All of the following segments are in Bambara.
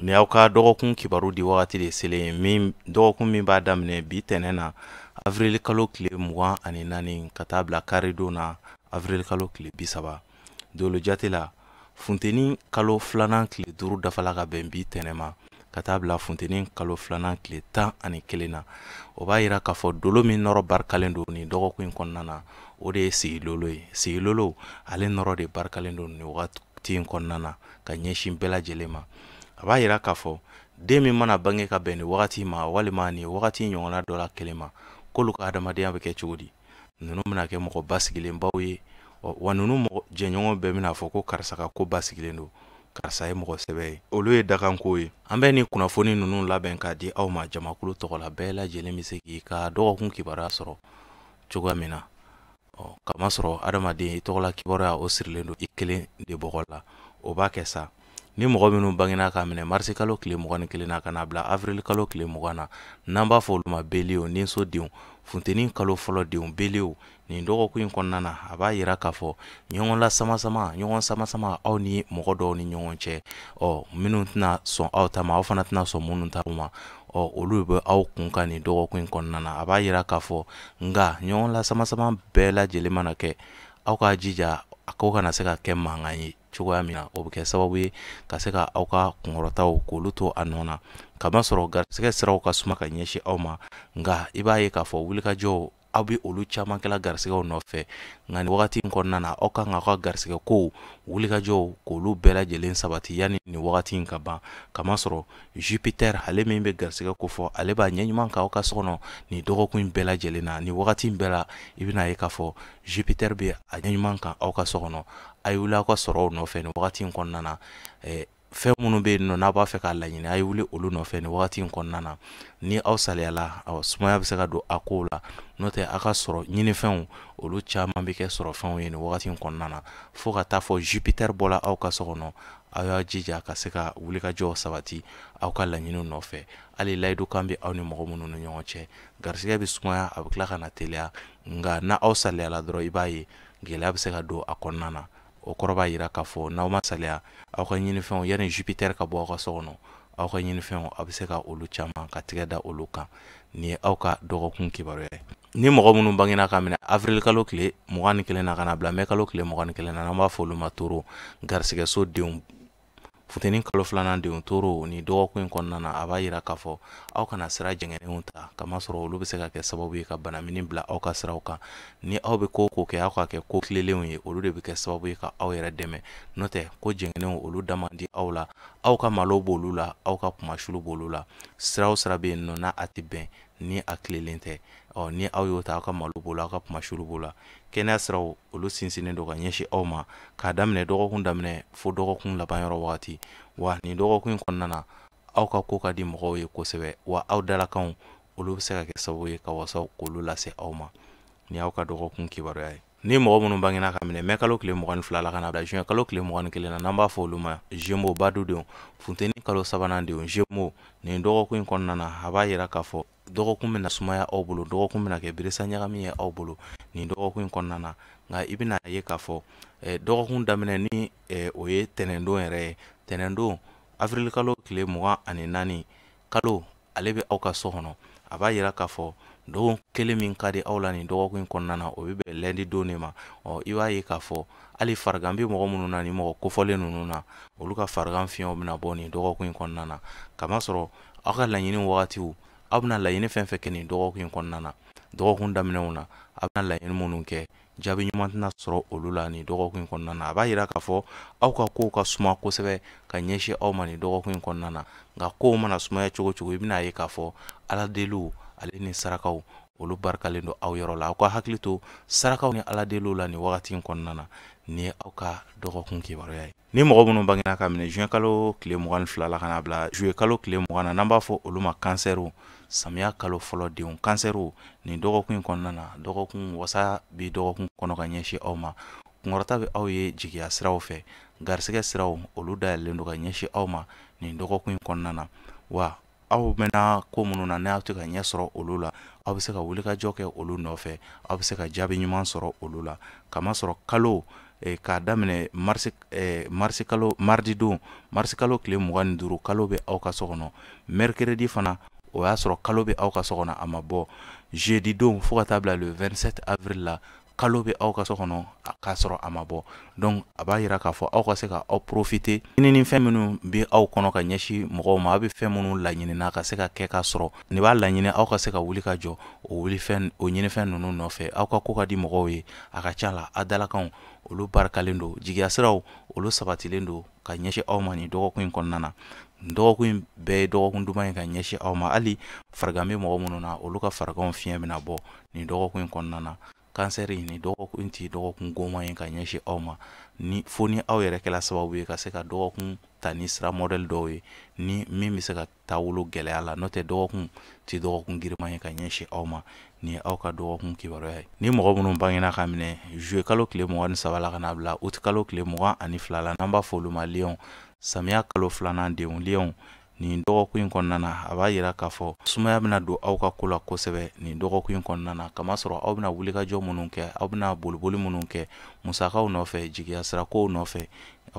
ni aw ka dɔgɔkun kibaru di wagati de selen min dɔgɔkun min b'a daminɛ bi tɛnɛ na avril kalo tile mugan ani naani ka taa bila karidon na avril kalo tile bi saba dolo jate la funteni kalo filanan tile duuru dafala ka bɛn bi tɛnɛ ma ka taa bila funteni kalo filanan tile tan ani kelen na o b'a yira k'a fɔ dolo min nɔrɔ barikalen don nin dɔgɔkun in kɔnɔna na o de ye sigilolo ye sigilolo ale nɔrɔ de barikalen don nin wagati in kɔnɔna na ka ɲɛsin bɛɛ lajɛlen ma a b'a yira k'a fɔ den min mana bange ka bɛn ni wagati ma walima ni wagati ɲɔgɔnna dɔ la kelen ma k'olu ka adamadenya bɛ kɛ cogo di ninnu bɛna kɛ mɔgɔ basigilenbaw ye wa ninnu mɔgɔ jɛɲɔgɔn bɛɛ bɛna a fɔ ko karisa ka ko basigilen don karisa ye mɔgɔ sɛbɛ ye olu ye dakanko ye an bɛ ni kunnafoni ninnu labɛn k'a di aw ma jamakulu tɔgɔ la bɛɛ lajɛlen bɛ se k'i ka dɔgɔkun kibaruya sɔrɔ cogoya min na ɔ kamasɔrɔ adamaden i tɔgɔla kibaruya o sirilen don i kelen de bɔgɔ la o b'a kɛ sa ni mɔgɔ minnu bangena k'a minɛ marisi kalo tile mugan ni kelen na ka na bila avril kalo tile mugan na n'an b'a fɔ olu ma beliye ninso denw funteni kalo fɔlɔ denw beliye nin dɔgɔkun in kɔnɔna na a b'a yira k'a fɔ ɲɔgɔn lasamasama ɲɔgɔn samasama aw ni mɔgɔ dɔw ni ɲɔgɔn cɛ ɔ minnu tɛna sɔn aw ta ma aw fana tɛna sɔn minnu ta ma ɔ olu bɛ aw kun kan nin dɔgɔkun in kɔnɔna na a b'a yira k'a fɔ nka ɲɔgɔn lasamasama bɛɛ lajɛlen mana kɛ aw k'a jija a ko kana se ka kɛ mankan ye cogoya min na o bɛ kɛ sababu ye ka se ka aw ka kunkɔrɔtaw k'olu to a nɔ na kamasɔrɔ garisɛgɛ siraw ka suma ka ɲɛsin aw ma nka i b'a ye k'a fɔ wulikajɔw aw bɛ olu caman kɛla garisɛgɛw nɔfɛ nka nin wagati in kɔnɔna na aw kan ka aw ka garisɛgɛ kow wulikajɔw k'olu bɛɛ lajɛlen sabati yanni nin wagati in ka ban kamasɔrɔ jupiter ale min bɛ garisɛgɛ ko fɔ ale b'a ɲɛ ɲuman kan aw ka so kɔnɔ nin dɔgɔkun in bɛɛ lajɛlen na nin wagati in bɛɛ la i bɛna ye k'a fɔ jupiter bɛ a ɲɛ ɲuman kan aw ka so kɔnɔ a ye wuli aw ka sɔrɔw nɔfɛ nin wagati in kɔnɔna na eh, fɛn minnu bɛ yen nɔ n'a b'a fɛ k'a laɲini a ye wuli olu nɔfɛ nin wagati in kɔnɔna na ni aw saliyala sumaya bɛ se ka don a kow la n'o tɛ aw ka sɔrɔ ɲinifɛnw olu caman bɛ kɛ sɔrɔfɛnw ye nin wagati in kɔnɔna na fo ka taa fo jupiter bɔla aw ka so kɔnɔ aw y'a jija ka se ka wulikajɔw sabati aw ka laɲiniw nɔfɛ hali layidu kan bɛ aw ni mɔgɔ minnu ni ɲɔgɔn cɛ garisigɛ bɛ sumaya a bɛ tila ka na teliya nka n'aw saliyala dɔrɔn i b'a ye gɛlɛya bɛ se ka don a kɔnɔna na o kɔrɔ b'a yira k'a fɔ n'aw ma saliya aw ka ɲinifɛnw yanni jupiter ka bɔ aw ka so kɔnɔ aw ka ɲinifɛnw aw bɛ se ka olu caman ka tigɛ da olu kan nin ye aw ka dɔgɔkun kibaruya ye ni mɔgɔ minnu bangena ka minɛ avril kalo tile mugan ni kelen na ka na bila mɛ kalo tile mugan ni kelen na n'an b'a fɔ olu ma toro garisigɛso denw funteni kalo filanan denw toro ni dɔgɔkun in kɔnɔna na a b'a yira k'a fɔ aw kana sira jɛngɛnenw ta kamasɔrɔ olu bɛ se ka kɛ sababu ye ka banamini bila aw ka siraw kan ni aw bɛ ko ko kɛ aw k'a kɛ ko tilelenw ye olu de bɛ kɛ sababu ye ka aw yɛrɛ dɛmɛ n'o tɛ ko jɛngɛnenw olu da man di aw la aw ka malo b'olu la aw ka kunmasulu b'olu la sira o sira bɛ yen n'o n'a a tɛ bɛn ni a tilelen tɛ ɔ ni aw y'o ta aw ka malo b'o la aw ka kunmasulu b'o la kɛnɛya siraw olu sinsinnen don ka ɲɛsin aw ma k'a daminɛ dɔgɔkun daminɛ fo dɔgɔkun laban yɔrɔ wagati wa nin dɔgɔkun in kɔnɔna na aw ka ko ka di mɔgɔw ye kosɛbɛ wa aw dalakanw olu bɛ se ka kɛ sababu ye ka wasaw k'olu lase aw ma nin ye aw ka dɔgɔkun kibaruya ye ni mɔgɔ minnu bangena k'a minɛ mɛ kalo tile mugan ni fila la ka na bila juin kalo tile mugan ni kelen na n'an b'a fɔ olu ma jemo badudenw funteni kalo sabanan denw jemo nin dɔgɔkun in kɔnɔna na a b'a yira k'a fɔ dɔgɔkun bɛna sumaya aw bolo dɔgɔkun bɛna kɛ birisa ɲagami ye aw bolo nin dɔgɔkun in kɔnɔna na nka i bɛna ye k'a fɔ eh, dɔgɔkun daminɛ ni eh, o ye tɛnɛndon yɛrɛ ye tɛnɛndon avril kalo tile mugan ani naani kalo ale bɛ aw ka so kɔnɔ a b'a yira k'a fɔ dɔgɔkun kelen min ka di aw la nin dɔgɔkun in kɔnɔna na o bɛ bɛn lundi don de ma ɔ i b'a ye k'a fɔ hali farigan bɛ mɔgɔ minnu na nin mɔgɔ kofɔlen ninnu na olu ka farigan fiɲɛw bɛna bɔ nin dɔgɔkun in kɔnɔna na kamasɔrɔ aw ka laɲini wagatiw aw bɛna laɲini fɛn fɛn kɛ nin dɔgɔkun in kɔnɔna na dɔgɔkun daminɛw na aw bɛna laɲini minnu kɛ jaabi ɲuman tɛna sɔrɔ olu la nin dɔgɔkun in kɔnɔna na a b'a yira k'a fɔ aw ka kow ka suma kosɛbɛ ka ɲɛsin aw ma nin dɔgɔkun in kɔnɔna na nka kow mana sumaya cogo cogo i bɛna ye k'a fɔ ala deliw ale ni sarakaw olu barikalen don aw yɔrɔ la aw ka hakili to sarakaw ni ala deliw la nin wagati in kɔnɔna na nin ye aw ka dɔgɔkun kibaruya ye ni mɔgɔ minnu bangena k'a minɛ juin kalo tile mugan ni fila la ka na bila juillet kalo tile mugan na n'an b'a fɔ olu ma kansɛriw samiya kalo fɔlɔ denw kansɛriw nin dɔgɔkun in kɔnɔna na dɔgɔkun wasa bi dɔgɔkun kɔnɔ ka ɲɛsin aw ma kunkɔrɔta bɛ aw ye jigiya siraw fɛ garisɛgɛ siraw olu dayɛlɛlen don ka ɲɛsin aw ma nin dɔgɔkun in kɔnɔna na wa aw mɛnna ko minnu na n'aw tɛ ka ɲɛ sɔrɔ olu la aw bɛ se ka wulikajɔ kɛ olu nɔfɛ aw bɛ se ka jaabi ɲuman sɔrɔ olu la kamasɔrɔ kalo eh, k'a daminɛ marisi eh, marisi kalo mardi don marisi kalo tile mugan ni duuru kalo bɛ aw ka so kɔnɔ mercredi fana o y'a sɔrɔ kalo bɛ aw ka so kɔnɔ a ma bɔ jeudi don fo ka taa bila le 27 avril la kalo bɛ aw ka so kɔnɔ k'a sɔrɔ a ma bɔ donc a b'a yira k'a fɔ aw ka se ka aw profiter ɲinini fɛn minnu bɛ aw kɔnɔ ka ɲɛsin mɔgɔw ma aw bɛ fɛn minnu laɲinina ka se ka kɛ k'a sɔrɔ nin b'a laɲini aw ka se ka wuli ka jɔ o wuli fɛn o ɲinifɛn ninnu nɔfɛ aw ka ko ka di mɔgɔw ye a ka ca la a dalakanw olu barikalen don jigiya siraw olu sabatilen don ka ɲɛsin aw ma nin dɔgɔkun in kɔnɔna na dɔgɔkun in bɛɛ ye dɔgɔkun duman ye ka ɲɛsin aw ma hali farigan bɛ mɔgɔ minnu na olu ka fariganw fiɲɛ bɛna bɔ nin dɔgɔkun in kɔnɔna na kansɛri nin dɔgɔkun in tɛ dɔgɔkun goman ye ka ɲɛsin aw ma ni fo ni aw yɛrɛ kɛla sababu ye ka se ka dɔgɔkun ta ni sira mɔdɛli dɔw ye ni min bɛ se ka taabolo gɛlɛya la n'o tɛ dɔgɔkun tɛ dɔgɔkun giriman ye ka ɲɛsin aw ma nin ye aw ka dɔgɔkun kibaruya ye ni mɔgɔ minnu bangena ka minɛ zuwe kalo tile mugan ni saba la ka na bila uti kalo tile mugan ani fila la n'an b'a fɔ olu ma liyɔn samiya kalo filanan denw liyɔn nin dɔgɔkun in kɔnɔna na a b'a yira k'a fɔ sumaya bɛna don aw ka ko la kosɛbɛ nin dɔgɔkun in kɔnɔna na kamasɔrɔ aw bɛna wulikajɔ minnu kɛ aw bɛna boliboli minnu kɛ musakaw nɔfɛ jigiya sirakow nɔfɛ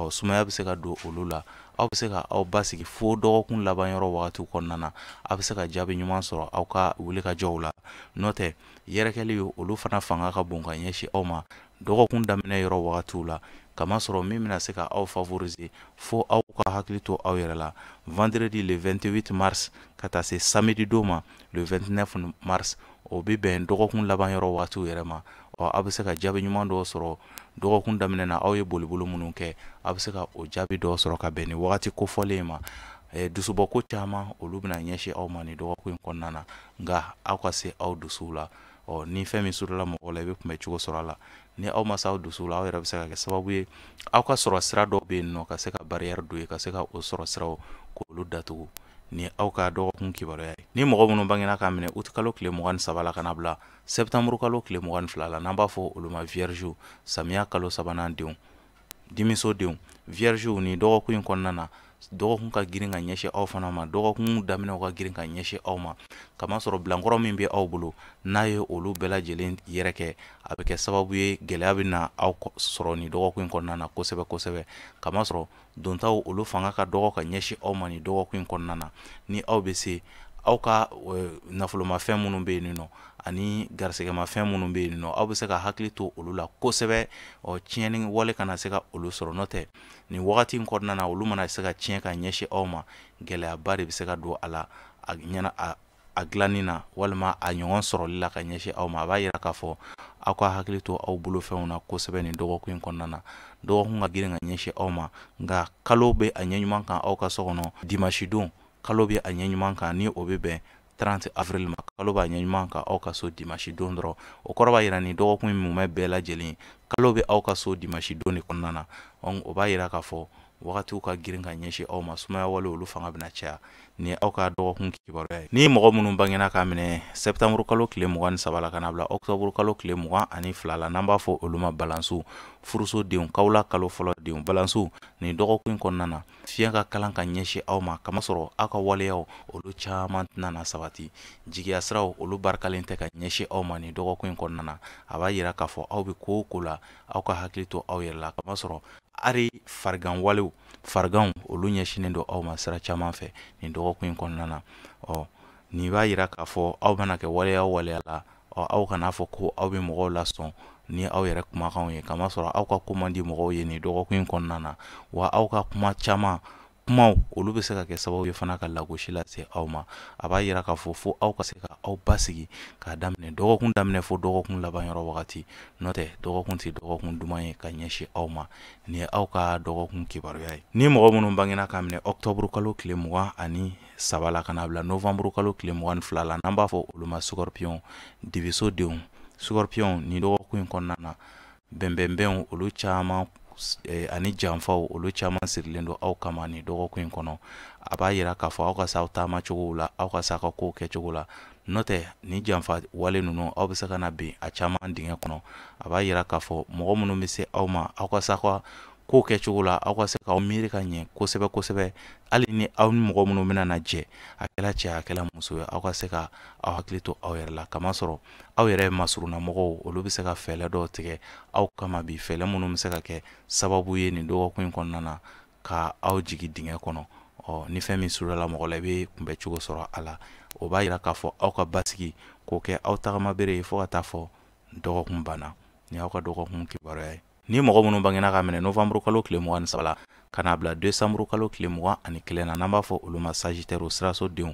sumaya bɛ se ka don olu la aw bɛ se ka aw basigi fo dɔgɔkun laban yɔrɔ wagatiw kɔnɔna na aw bɛ se ka jaabi ɲuman sɔrɔ aw ka wulikajɔw la n'o tɛ yɛrɛkɛli ye olu fana fanga ka bon ka ɲɛsin aw ma dɔgɔkun daminɛ yɔrɔ wagatiw la kamasɔrɔ min bɛna se ka aw favoriser fo aw ka hakili to aw yɛrɛ la vendredi le 28 mars ka taa se samedi don ma le 29 mars o bɛ bɛn dɔgɔkun laban yɔrɔ wagatiw yɛrɛ ma ɔ aw bɛ se ka jaabi ɲuman dɔw sɔrɔ dɔgɔkun daminɛ na aw ye boliboli minnu kɛ aw bɛ se ka o jaabi dɔw sɔrɔ ka bɛn ni wagati kofɔlen ma dusubɔ ko caman olu bɛna ɲɛsin aw ma ni dɔgɔkun in kɔnɔna na nka aw ka se aw dusuw la ɔ ni fɛn min surula mɔgɔ la i bɛ kunbɛ cogo sɔrɔ a la ni aw ma s'aw dusuw la aw yɛrɛ bɛ se ka kɛ sababu ye aw ka sɔrɔ sira dɔw bɛ yen nɔ ka se ka barrière don yen ka se ka o sɔrɔ siraw k'olu datugu ni aw ka dɔgɔkun kibaruya ye ni mɔgɔ minnu bangena k'a minɛ août kalo tile mugan ni saba la ka na bila septembre kalo tile mugan ni fila la n'an b'a fɔ olu ma vierge samiya kalo sabanan denw denmiso denw viergew ni dɔgɔkun in kɔnɔna na dɔgɔkun ka girin ka ɲɛsin aw fana ma dɔgɔkun daminɛw ka girin ka ɲɛsin aw ma kamasɔrɔ bilankɔrɔ min bɛ aw bolo n'a ye olu bɛɛ lajɛlen yɛrɛ kɛ a bɛ kɛ sababu ye gɛlɛya bɛna aw sɔrɔ ni dɔgɔkun in kɔnɔna na kosɛbɛ kosɛbɛ kamasɔrɔ dontaw olu fanga ka dɔgɔ ka ɲɛsin aw ma ni dɔgɔkun in kɔnɔna na ni aw bɛ se aw ka nafolomafɛn minnu bɛ yen nin nɔ ani garisɛgɛmafɛn minnu bɛ yen nɔ aw bɛ se ka hakili to olu la kosɛbɛ ɔ tiɲɛni wale kana se ka olu sɔrɔ n'o tɛ nin wagati in kɔnɔna na olu mana se ka tiɲɛ ka ɲɛsin aw ma gɛlɛyaba de bɛ se ka don a la a ɲɛna a a dilanni na walima a ɲɔgɔn sɔrɔli la ka ɲɛsin aw ma a b'a yira k'a fɔ aw ka hakili to aw bolofɛnw na kosɛbɛ nin dɔgɔkun in kɔnɔna na dɔgɔkun ka girin ka ɲɛsin aw ma nka kalo bɛ a ɲɛ ɲuman kan aw ka so kɔnɔ dimasidon kalo bɛ a ɲɛ ɲuman kan ni o bɛ bɛn 30 avril ma kalo b'a ɲɛ ɲuman kan aw ka so dimasi don dɔrɔn o kɔrɔ b'a yira nin dɔgɔkun in mumɛ bɛɛ lajɛlen kalo bɛ aw ka so dimasi don de kɔnɔna na o b'a yira k'a fɔ wagatiw ka girin ka ɲɛsin aw ma sumaya walew olu fanga bɛna caya ni aw ka dɔgɔkun kibaruya ye ni mɔgɔ minnu bangena k'a minɛ sɛptanburu kalo tile mugan ni saba la ka n'a bila ɔktɔburu kalo tile mugan ani fila la n'an b'a fɔ olu ma balansu furuso denw kawula kalo fɔlɔ denw balansu nin dɔgɔkun kɔnɔna na fiɲɛ ka kalan ka ɲɛsin aw ma k'a masɔrɔ aw ka waleyaw olu caman tɛna sabati jigiya siraw olu barikalen tɛ ka ɲɛsin aw ma nin dɔgɔkun in kɔnɔna na a b'a yira k'a fɔ aw bɛ ko o ko la aw ka hakili to aw yɛrɛ la k'a masɔrɔ hali farigan walew fariganw olu ɲɛsinnen don aw ma sira caman fɛ nin dɔgɔkun in kɔnɔna na ɔ nin b'a yira k'a fɔ aw bɛna kɛ waleya o waleya la ɔ aw kana a fɔ ko aw bɛ mɔgɔw lasɔn ni aw yɛrɛ kumakanw ye k'a masɔrɔ aw ka ko man di mɔgɔw ye nin dɔgɔkun in kɔnɔna na wa aw ka kuma caman kumaw olu bɛ se ka kɛ sababu ye fana ka lagosi lase aw ma a b'a yira k'a fɔ fo aw ka se ka aw basigi k'a daminɛ dɔgɔkun daminɛ fo dɔgɔkun laban yɔrɔ wagati n'o tɛ dɔgɔkun tɛ dɔgɔkun duman ye ka ɲɛsin aw ma nin ye aw ka dɔgɔkun kibaruya ye ni mɔgɔ minnu bangena k'a minɛ ɔktɔburu kalo tile mugan ani saba la ka n'a bila novanburu kalo tile mugan ni fila la n'an b'a fɔ olu ma sukɔrɔpiyɔn dibiso denw sukɔrɔpiyɔn nin dɔgɔkun in kɔnɔna na bɛnbɛnbɛnw olu caman eh, ani janfaw olu caman sirilen don aw kama nin dɔgɔkun in kɔnɔ a b'a yira k'a fɔ aw ka se aw taama cogow la aw ka se aw ka kow kɛcogo la n'o tɛ nin janfa wale ninnu aw bɛ se ka na bin a caman dingɛ kɔnɔ a b'a yira k'a fɔ mɔgɔ minnu bɛ se aw ma aw ka se aw ka ko kɛcogo la aw ka se k'aw miiri ka ɲɛ kosɛbɛ kosɛbɛ hali ni aw ni mɔgɔ minnu bɛna na jɛ a kɛla cɛ a kɛla muso ye aw ka se ka aw hakili to aw yɛrɛ la k'a masɔrɔ aw yɛrɛ masurunna mɔgɔw olu bɛ se ka fɛɛlɛ dɔw tigɛ aw kama bi fɛɛlɛ minnu bɛ se ka kɛ sababu ye nin dɔgɔkun in kɔnɔna na ka aw jigi dingɛ kɔnɔ ɔ ni fɛn min surunyala mɔgɔ la i bɛ kunbɛ cogo sɔrɔ a la o b'a yira k'a fɔ aw ka basigi k'o kɛ aw tagama bere ye fo ka taa fo dɔgɔkun banna ni aw ka dɔgɔkun kibaruya ye ni mɔgɔ minnu bangena k'a minɛ novamburu kalo tile mugan ni saba la ka n'a bila desanburu kalo tile mugan ani kelen na n'an b'a fɔ olu ma sajitɛriw siraso denw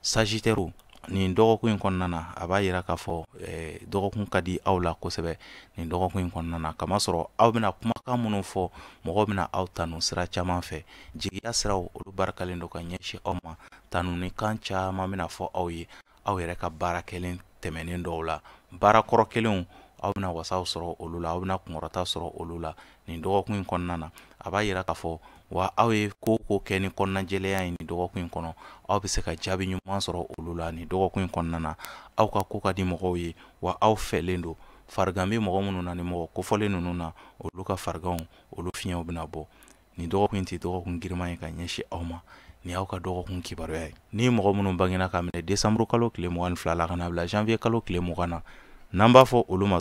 sajitɛriw nin dɔgɔkun in kɔnɔna na a b'a yira k'a fɔ eh, dɔgɔkun ka di aw la kosɛbɛ nin dɔgɔkun in kɔnɔna na k'a masɔrɔ aw bɛna kumakan minnu fɔ mɔgɔw bɛna aw tanu sira caman fɛ jigiya siraw olu barikalen don ka ɲɛsin aw ma tanunikan caman bɛna fɔ aw ye aw yɛrɛ ka baara kɛlen tɛmɛnen dɔw la baara kɔrɔ kɛlenw aw bɛna wasaw sɔrɔ olu la aw bɛna kunkɔrɔta sɔrɔ olu la nin dɔgɔkun in kɔnɔna na a b'a yira k'a fɔ wa aw ye ko o ko kɛ ni kɔnɔnajɛlenya ye nin dɔgɔkun in kɔnɔ aw bɛ se ka jaabi ɲuman sɔrɔ olu la nin dɔgɔkun in kɔnɔna na aw ka ko ka di mɔgɔw ye wa aw fɛlen don farigan bɛ mɔgɔ minnu na nin mɔgɔ kofɔlen ninnu na olu ka fariganw olu fiɲɛw bɛna bɔ nin dɔgɔkun in tɛ dɔgɔkun giriman ye ka ɲɛsin aw ma ni aw ka dɔgɔkun kibaruya ye ni mɔgɔ minnu bangena k'a minɛ desanburu kalo tile mugan ni fila la ka na bila janvier kalo tile mugan na n'an b'a fɔ olu ma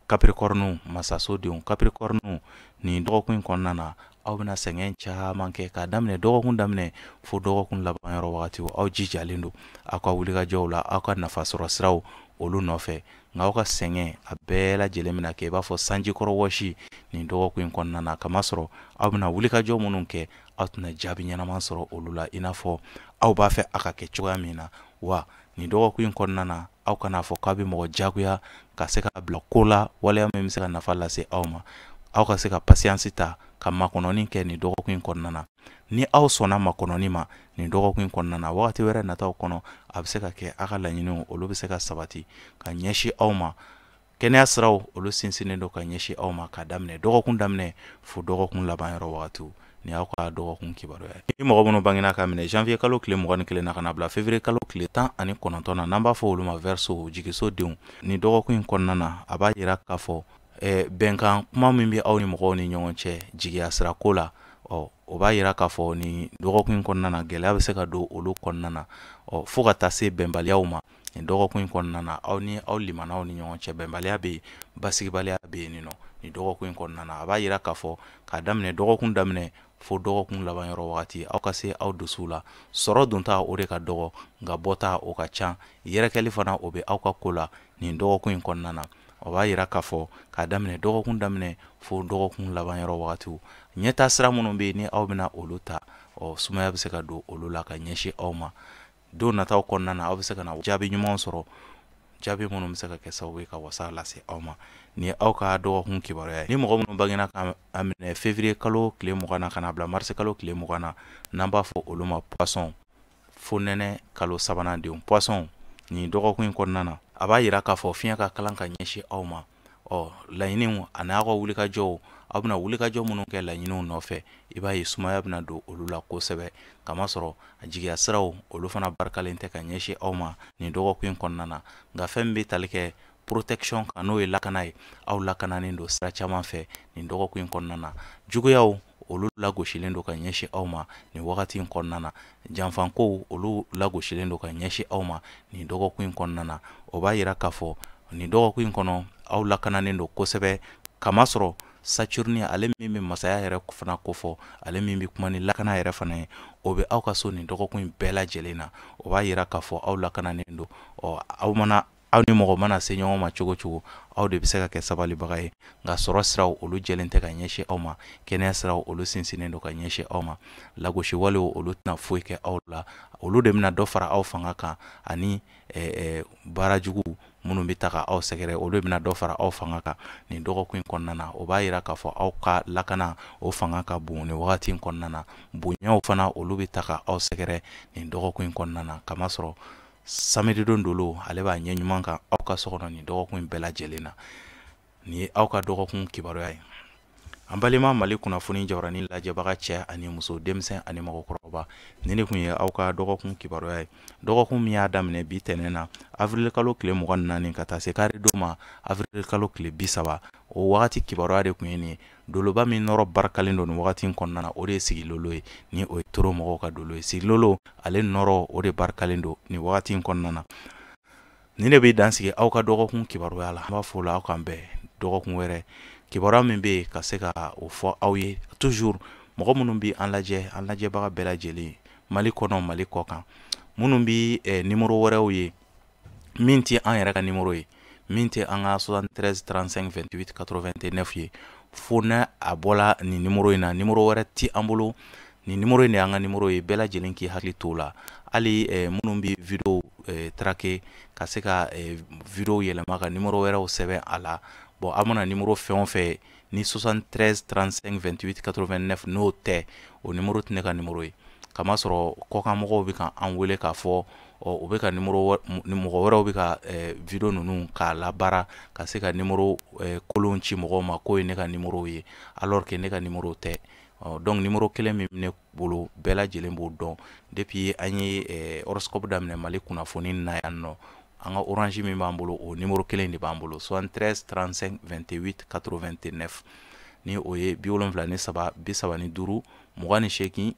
kapirikɔrɔniw masasodenw kapirikɔrɔniw nin dɔgɔkun in kɔnɔna na aw bɛna sɛgɛn caman kɛ k'a daminɛ dɔgɔkun daminɛ fo dɔgɔkun laban yɔrɔ wagati aw jijalen don aw ka wulikajɔw la aw ka nafasɔrɔ siraw olu nɔfɛ nka aw ka sɛgɛn a bɛɛ lajɛlen bɛna kɛ i b'a fɔ sanjikɔrɔ wɔsi nin dɔgɔkun in kɔnɔna na kamasɔrɔ aw bɛna wulikajɔ minnu kɛ aw tɛna jaabi ɲɛnama sɔrɔ olu la i n'a fɔ aw b'a fɛ a ka kɛ cogoya min na wa nin dɔgɔkun in kɔnɔna na aw kana a fɔ k'aw bɛ mɔgɔ jagoya ka se ka bila ko la waleya min bɛ se ka nafa lase aw ma aw ka se ka pasiyansi ta ka makɔnɔni kɛ nin dɔgɔkun in kɔnɔna na ni aw sɔnna makɔnɔni ma nin dɔgɔkun in kɔnɔna na wagati wɛrɛ nataw kɔnɔ a bɛ se ka kɛ aw ka laɲiniw olu bɛ se ka sabati ka ɲɛsin aw ma kɛnɛya siraw olu sinsinnen don ka ɲɛsin aw ma k'a daminɛ dɔgɔkun daminɛ fo dɔgɔkun laban yɔrɔ wagatiw ni aw ka dɔgɔkun kibaruya ye ni mɔgɔ minnu bangina k'a minɛ janvier kalo tile mugan ni kelen na ka na bila février kalo tile tan ani kɔnɔntɔn na n'an b'a fɔ olu ma verseau jigisodenw nin dɔgɔkun in kɔnɔna na a b'a yira k'a fɔ eh, bɛnkan kuma min bɛ aw ni mɔgɔw ni ɲɔgɔn cɛ jigiya sira ko la ɔ o b'a yira k'a fɔ nin dɔgɔkun in kɔnɔna na gɛlɛya bɛ se ka don olu kɔnɔna na ɔ fo ka taa se bɛnbaliyaw ma nin dɔgɔkun in kɔnɔna na aw ni aw limanaw ni ɲɔgɔn cɛ bɛnbaliya bɛ yen basigibaliya bɛ yen ɔ nin dɔgɔkun in kɔnɔna na a b'a yira k'a fɔ k'a daminɛ dɔgɔkun daminɛ fo dɔgɔkun laban yɔrɔ wagati aw ka se aw dusuw la sɔrɔ donta o de ka dɔgɔ nka bɔta o ka ca yɛrɛkɛli fana o bɛ aw ka ko la nin dɔgɔkun in kɔnɔna na o b'a yira k'a fɔ k'a daminɛ dɔgɔkun daminɛ fo dɔgɔkun laban yɔrɔ wagatiw ɲɛtaa sira minnu bɛ yen ni aw bɛna olu ta ɔ sumaya bɛ se ka don olu la ka ɲɛsin aw ma don nataw kɔnɔna na aw bɛ se ka na jaabi ɲuman sɔrɔ jaabi minnu bɛ se ka kɛ sababu ye ka wasa lase aw ma nin ye aw ka dɔgɔkun kibaruya ye ni mɔgɔ minnu bangena k'a minɛ février kalo tile mugan na ka na bila mars kalo tile mugan na n'an b'a fɔ olu ma poisson fonɛnɛ kalo sabanan denw poisson nin dɔgɔkun in kɔnɔna na a b'a yira k'a fɔ fiɲɛ ka kalan ka ɲɛsin aw ma ɔ laɲiniw ani aw ka wulikajɔw aw bɛna wulikajɔ minnu kɛ laɲiniw nɔfɛ i b'a ye sumaya bɛna don olu la kosɛbɛ kamasɔrɔ a jigiya siraw olu fana barikalen tɛ ka ɲɛsin aw ma nin dɔgɔkun in kɔnɔna na nka fɛn min bɛ tali kɛ protection kan n'o ye lakana ye aw lakananen don sira caman fɛ nin dɔgɔkun in kɔnɔna na juguyaw olu lagosilen don ka ɲɛsin aw ma nin wagati in kɔnɔna na janfakow olu lagosilen don ka ɲɛsin aw ma nin dɔgɔkun in kɔnɔna na o b'a yira k'a fɔ nin dɔgɔkun in kɔnɔ aw lakananen don kosɛbɛ kamasɔrɔ saturne ale min bɛ masaya yɛrɛ fana kofɔ ale min bɛ kuma ni lakana yɛrɛ fana ye o bɛ aw ka so nin dɔgɔkun in bɛɛ lajɛlen na o b'a yira k'a fɔ aw lakananen don ɔ aw mana aw ni mɔgɔ mana se ɲɔgɔn ma cogo cogo aw de bɛ se ka kɛ sabalibaga ye nka sɔrɔ siraw olu jɛlen tɛ ka ɲɛsin aw ma kɛnɛya siraw olu sinsinnen don ka ɲɛsin aw ma lagosiwalew olu tɛna foyi kɛ aw la olu de bɛna dɔ fara aw fanga kan ani baara jugu minnu bɛ ta ka aw sɛgɛrɛ olu bɛna dɔ fara aw fanga kan nin dɔgɔkun in kɔnɔna na o b'a yira k'a fɔ aw ka lakana o fanga ka bon ni wagati in kɔnɔna na bonyaw fana olu bɛ ta ka aw sɛgɛrɛ nin dɔgɔkun in kɔnɔna na kamasɔrɔ samedi don dolo ale b'a ɲɛ ɲuman kan aw ka so kɔnɔ nin dɔgɔkun in bɛɛ lajɛlen na nin ye aw ka dɔgɔkun kibaruya ye an balima mali kunnafoni jabaranin lajɛbaga cɛ ani muso denmisɛn ani mɔgɔkɔrɔba nin de kun ye aw ka dɔgɔkun kibaruya ye dɔgɔkun min y'a daminɛ bi tɛnɛn na avirilikalo tile mugan ni naani ka taa se karidon ma avirilikalo tile bi saba o wagati kibaruya de kun ye nin ye doloba min nɔrɔ barikalen don nin wagati in kɔnɔna na o de ye sigilolo ye ni o ye toro mɔgɔw ka dolo ye sigilolo ale nɔrɔ o de barikalen don nin wagati in kɔnɔna na nin de bɛ dan sigi aw ka dɔgɔkun kibaruya la an b'a fɔ la aw k'an bɛn dɔgɔkun wɛrɛ kibaruya min bɛ yen ka se ka o fɔ aw ye toujours mɔgɔ minnu bɛ an lajɛ an lajɛbaga bɛɛ lajɛlen mali kɔnɔ mali kɔ kan minnu bɛ eh, nimoro wɛrɛw ye min tɛ an yɛrɛ ka nimoro ye min tɛ an ka 73 35 28 89 ye fo n'a a bɔla nin nimoro in na nimoro wɛrɛ tɛ an bolo nin nimoro in de y'an ka nimoro ye bɛɛ lajɛlen k'i hakili t'o la hali eh, minnu bɛ video eh, trake ka se ka eh, video yɛlɛma ka nimoro wɛrɛw sɛbɛn a la bon aw mana nimoro fɛn o fɛn ni 73 35 28 89 n'o tɛ o nimoro tɛ ne ka nimoro ye kamasɔrɔ kɔkan mɔgɔw bɛ ka an wele k'a fɔ u bɛ ka mɔgɔ wɛrɛw bɛ ka video ninnu k'a labaara ka se ka nimoro kolon ci mɔgɔw ma k'o ye ne ka nimoro ye alors que ne ka nimoro tɛ donc nimoro kelen min ne bolo bɛɛ lajɛlen b'o dɔn depuis an ye horoscope daminɛ Mali kunnafoni na yan nɔ an ka orange min b'an bolo o nimoro kelen de b'an bolo 73 35 28 89 ni o ye bi wolonfila ni saba bi saba ni duuru mugan ni seegin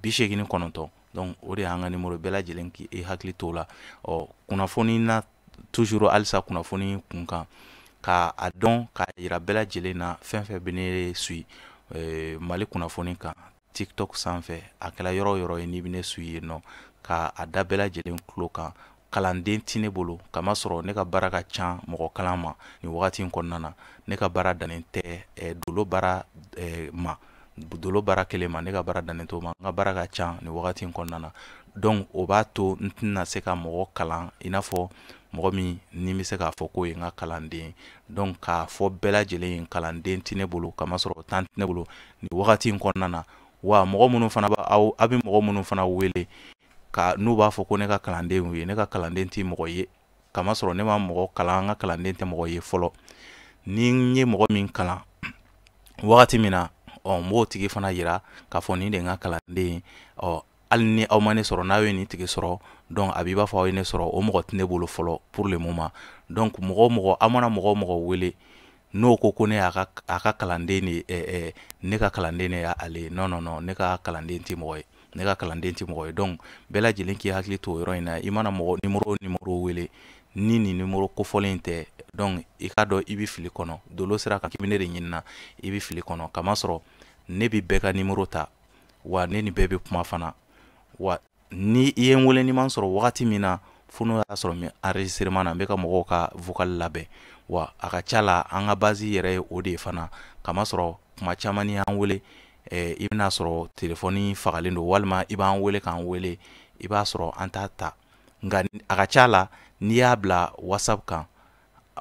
bi seegin ni kɔnɔntɔn donc o de y'an ka nimoro bɛɛ lajɛlen k'i hakili t'o la ɔ kunnafoni na toujours halisa kunnafoni kunkan ka a dɔn k'a yira bɛɛ lajɛlen na fɛn fɛn bɛ ne suit mali kunnafoni kan tiktok sanfɛ a kɛla yɔrɔ yɔrɔ ye n'i bɛ ne suit yen nɔ ka a da bɛɛ lajɛlen tulo kan kalanden tɛ ne bolo kamasɔrɔ ne ka baara ka ca mɔgɔ kalan ma nin wagati in kɔnɔna na ne ka baara dannen tɛ eh, dolo baara eh, ma dolo baara kelen ma ne ka baara dannen t'o ma n ka baara ka ca nin wagati in kɔnɔna na donc o b'a to n tɛna se ka mɔgɔ kalan i n'a fɔ mɔgɔ min ne bɛ se k'a fɔ k'o ye n ka kalanden donc k'a fɔ bɛɛ lajɛlen ye kalanden tɛ ne bolo kamasɔrɔ temps tɛ ne bolo nin wagati in kɔnɔna na wa mɔgɔ minnu fana b'a aw a bɛ mɔgɔ minnu fana wele ka n'u b'a fɔ ko ne ka kalandenw ye ne ka kalanden tɛ mɔgɔ ye kamasɔrɔ ne ma mɔgɔ kalan n ka kalanden tɛ mɔgɔ ye fɔlɔ ni n ye mɔgɔ min kalan wagati min na ɔ n b'o tigi fana yira k'a fɔ nin de n ka kalanden ye ɔ hali ni aw ma ne sɔrɔ n'aw ye nin tigi sɔrɔ donc a b'i b'a fɔ aw ye ne sɔrɔ o mɔgɔ tɛ ne bolo fɔlɔ pour le moment donc mɔgɔ o mɔgɔ aw mana mɔgɔ o mɔgɔ wele n'o ko ko ne y'a ka a ka kalanden de ɛ ɛ ne ka kalanden de y'ale ye non non non ne ka kalanden tɛ mɔgɔ ye ne ka kalanden tɛ mɔgɔ ye donc bɛɛ lajɛlen k'i hakili to o yɔrɔ in na i mana mɔgɔ nimoro o nimoro wele ni nin nimoro kofɔlen in tɛ donc i k'a dɔn i bɛ fili kɔnɔ dolo sira kan k'i bɛ ne de ɲinina i bɛ fili kɔnɔ kamasɔrɔ ne bɛ bɛɛ ka nimoro ta wa ne ni bɛɛ bɛ kuma fana wa ni i ye n wele n'i ma n sɔrɔ wagati min na fo n'o y'a sɔrɔ n bɛ enregistrement na n bɛ ka mɔgɔw ka vocal labɛn wa a ka ca la an ka base yɛrɛ ye o de ye fana kamasɔrɔ kuma caman n'i y'an wele eh, i bɛn'a sɔrɔ telefɔni fagalen don walima i b'an wele k'an wele i b'a sɔrɔ an t'a ta nka a ka ca la n'i y'a bila whatsapp kan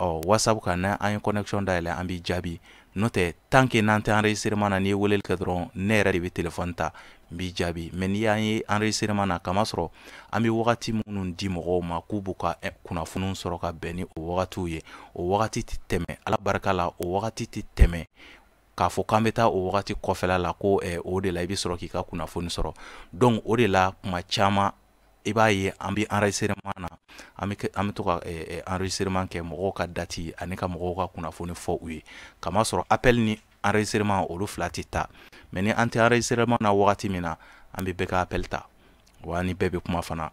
ɔ whatsapp kan ni an ye connexion dayɛlɛ an b'i jaabi n'o tɛ tant que n'an tɛ enregistrement na n'i ye weleli kɛ dɔrɔn ne yɛrɛ de bɛ téléphone ta n b'i jaabi mais n'i y'an ye enregistrement na kamasɔrɔ an bɛ wagati minnu di mɔgɔw ma k'u b'u ka eh, kunnafoniw sɔrɔ ka bɛn ni o wagatiw ye o wagati tɛ tɛmɛ ala barika la o wagati tɛ tɛmɛ k'a fɔ k'an bɛ taa o wagati kɔfɛla la ko eh, o de la i bɛ sɔrɔ k'i ka kunnafoni sɔrɔ donc o de la kuma caman i b'a ye an bɛ enregistrement na an bɛ an bɛ to ka enregistrement kɛ mɔgɔw ka date ani ka mɔgɔw ka kunnafoni fɔ u ye kamasɔrɔ appel ni enregistrement olu fila tɛ taa mais ni an tɛ enregistrement na wagati min na an bɛ bɛɛ ka appel ta wa n ni bɛɛ bɛ kuma fana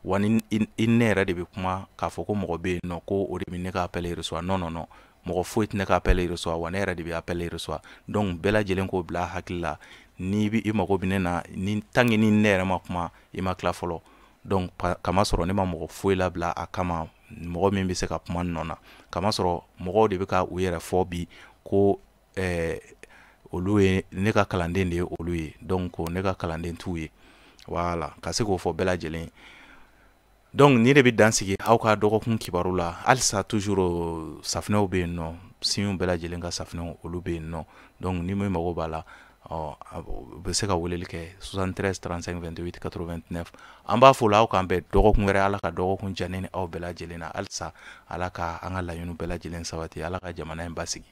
wa ni i ne yɛrɛ de bɛ kuma k'a fɔ ko mɔgɔ bɛ yen nɔ ko o de bɛ ne ka appel reçoit non non non mɔgɔ foyi tɛ ne ka appel reçoit wa ne yɛrɛ de bɛ appel reçoit donc bɛɛ lajɛlen k'o bila hakili la ni i mago bɛ ne na ni tant que ni ne yɛrɛ ma kuma i ma tila fɔlɔ donc kamasɔrɔ ne ma mɔgɔ foyi labila a kama mɔgɔ min bɛ se ka kuma n nɔ na kamasɔrɔ mɔgɔw de bɛ ka u yɛrɛ fɔ bi ko eh, olu ye ne ka kalanden de ye olu ye donc ne ka kalanden t'u ye wala ka se k'o fɔ bɛɛ lajɛlen donc nin de bɛ dan sigi aw ka dɔgɔkun kibaru la halisa toujours safinɛw bɛ yen nɔ siɲɛw bɛɛ lajɛlen ka safinɛw olu bɛ yen nɔ donc ni min mago b'a la ɔ u bɛ se ka weleli kɛ 73 35 28 89 an b'aw fo la aw k'an bɛn dɔgɔkun wɛrɛ ala ka dɔgɔkun diya ne ni aw bɛɛ lajɛlen na halisa ala ka an ka laɲiniw bɛɛ lajɛlen sabati ala ka jamana in basigi